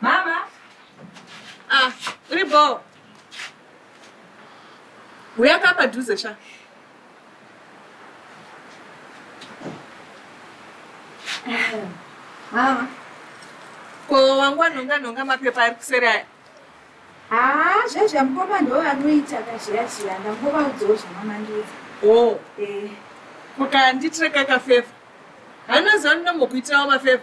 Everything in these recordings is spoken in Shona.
Mama. Ah, uri bho. Uya ka padhuze sha. Mama. Ko wangu anonga nonga mapepa ari kuseri aya. Ah, zvezvi amukoma ndo anoita kazhiya zhiya ndamukoma udzowo zvamamandiza. Oh. Eh. Kukanditreka kafeva. Hanoziva ndinombokuitirawo mafeva.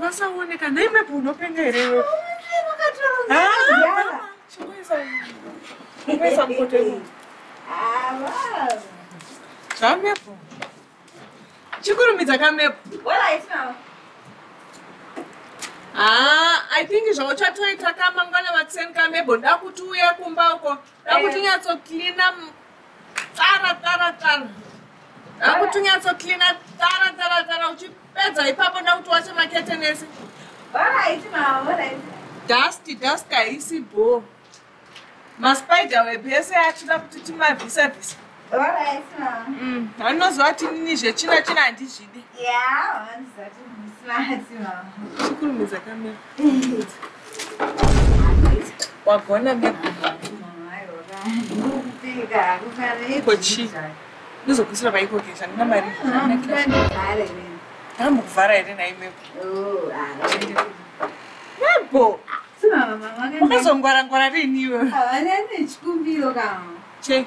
vasaoneka nhai mepo unopenga here iwe chingoisa mukoto iwe zvamepo chikurumidza kamepo haa i think zvauchatoita kamangwana vatseni kamebo ndakuti uya kumba uko Akuti nyatso cleaner tsara tsara tsara. Akuti nyatso cleaner tsara tsara tsara uchipedza ipapo ndakuti wache makete nese. Baba haiti maona haiti. Dusty dusty haisi bho. Maspider webese achida kuti timavhisa vhisa. Mm, anoziva kuti nini zvetsvina tsvina handizvidi chikurumidza kamera wagona kochi ndozogusira paikoke zvandina mari ndambokuvhara here naimepo nebo wakazongwara ngwara riiniwe chei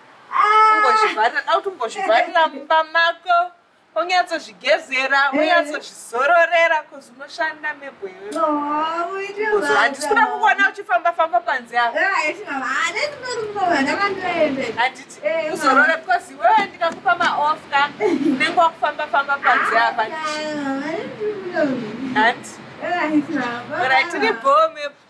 umbozvivharira dauti umbozvivharira mumba mako onyatsozvigezera onyatsozvizororera eh. bcause unoshanda mebho iwehandisi kuda kukuona uchifamba famba panze aohanditi uzorore bcause iwewe ndikakupa maof ka unenge wakufamba famba panze apa handi orit tiri bho mebho